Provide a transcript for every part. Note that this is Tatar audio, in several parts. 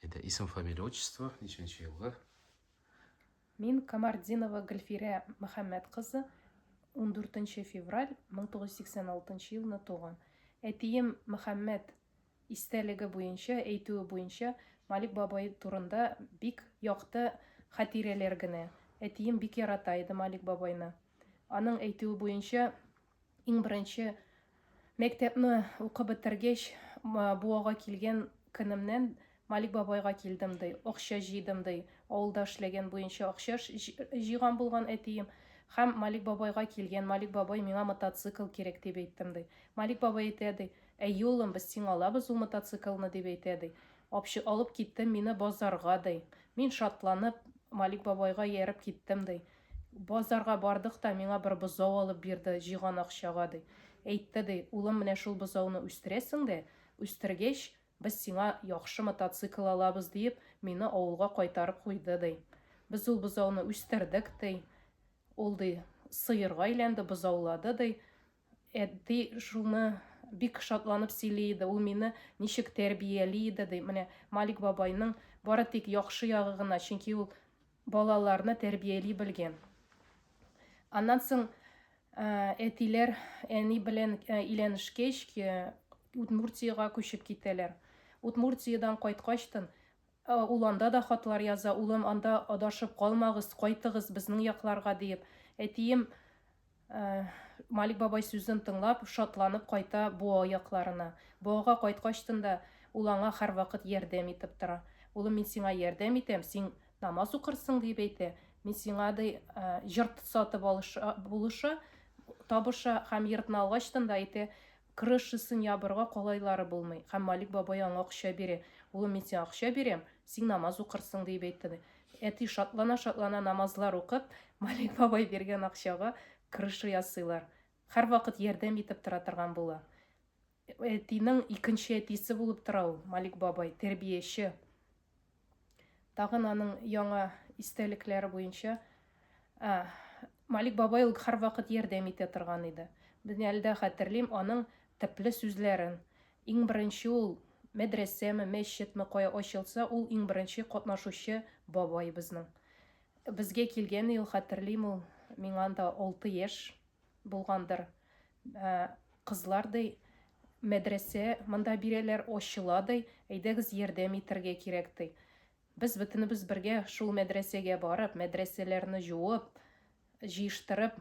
Әйдә, исем, фамилия, отчество, ничәнче елгы? Мин Камардинова Гөлфирә Мөхәммәт кызы, 14 февраль 1986 елны туган. Әтием Мөхәммәт истәлеге буенча, әйтүе буенча, Малик бабай турында бик якты хатирәләр генә. Әтием бик ярата иде Малик бабайны. Аның әйтүе буенча, Иң беренче мәктәпне укып бетергәч, Буага килгән көнемнән Малик бабайга килдем ди, акча җыйдым ди. Авылда эшләгән буенча акча җыйган булган әтием. Һәм Малик бабайга килгән, Малик бабай, миңа мотоцикл кирәк, дип әйттем ди. Малик бабай әйтә ди, әйе, улым, без сиңа алабыз ул мотоциклны, дип әйтә ди. Апчы алып китте мине базарга ди. Мин шатланып, Малик бабайга ияреп киттем ди. Базарга бардык та, миңа бер бозау алып бирде, җыйган акчага, ди. Әйтте, ди, Улым, менә шул бозауны үстерәсең дә, үстергәч, без сиңа яхшы мотоцикл алабыз, диеп, мине авылга кайтарып куйды, ди. Без ул бозауны үстердек, ди. Ул, ди, сыерга әйләнде, бозаулады, ди. Әти шуны бик шатланып сөйли иде, ул мине ничек тәрбияли иде, ди. Менә Малик бабайның бары тик яхшы ягы гына, чөнки ул балаларны тәрбияли белгән. Аннан соң әтиләр әни белән өйләнешкәч, Удмуртиягә күчеп китәләр. Удмуртиядән кайткачтын Ә ул анда да хатлар яза, Улым, анда адашып калмагыз, кайтыгыз безнең якларга, диеп. Әтием Малик бабай сүзен тыңлап, шатланып кайта Боа якларына. Боага кайткачтын да ул аңа һәрвакыт ярдәм итеп тора. Улым, мин сиңа ярдәм итәм, син намаз укырсың, диеп әйтә. Мин сиңа, ди, йорт сатып алыша, булыша, табыша һәм йортны алгачтын да әйтә, Крышасын ябырга калайлары булмый. Һәм Малик бабай аңа акча бирә. Улым, мин сиңа акча бирәм, сиң намаз укырсың, диеп әйтте, ди. Әти шатлана-шатлана намазлар укып, Малик бабай биргән акчага крыша ясыйлар. Һәрвакыт ярдәм итеп тора торган була. Әтинең икенче әтисе булып тора ул, Малик бабай, тәрбияче. Тагын аның яңа истәлекләре буенча ә, Малик бабай ул һәрвакыт ярдәм итә торган иде. Мин әле дә хәтерлим аның тәпле сүзләрен. Иң беренче ул мәдрәсәме, мәчетме кая ачылса, ул иң беренче катнашучы бабай безнең. Безгә килгән ел хәтерлим ул, миңа анда алты яшь. Булгандыр. Ә, кызлар, ди, мәдрәсә монда бирәләр, ачыла, ди, әйдәгез ярдәм итәргә кирәк, ди. Без бөтенебез бергә шул мәдрәсәгә барып, мәдрәсәләрне җуып, җыештырып,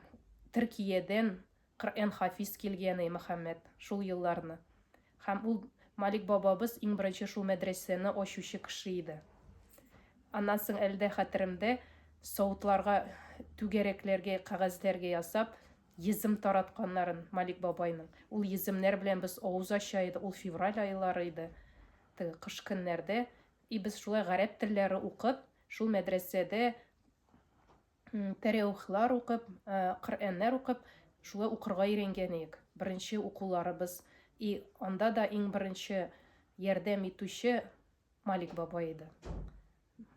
Төркиядән Коръән хафиз килгән, ди, Мөхәммәт, шул елларны. Һәм ул Малик бабабыз иң беренче шул мәдрәсәне ачучы кеше иде. Аннан соң әле дә хәтеремдә, савытларга, түгәрәкләргә, кәгазьләргә ясап, йөзем таратканнарын Малик бабайның. Ул йөземнәр белән без авыз ача иде, ул февраль айлары иде, теге кыш көннәрдә. И без шулай гарәп телләре укып, шул мәдрәсәдә тәреухлар укып, Коръәннәр укып, шулай укырга өйрәнгәнек. Беренче укуларыбыз и анда да иң беренче ярдәм итүче Малик бабай иде.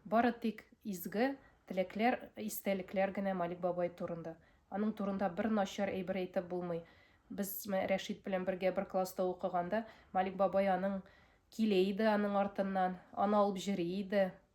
Бары тик изге теләкләр, истәлекләр генә Малик бабай турында. Аның турында бер начар әйбер әйтеп булмый. Без Рәшит белән бергә бер класста укыганда, Малик бабай аның килә иде аның артыннан, аны алып җөри иде.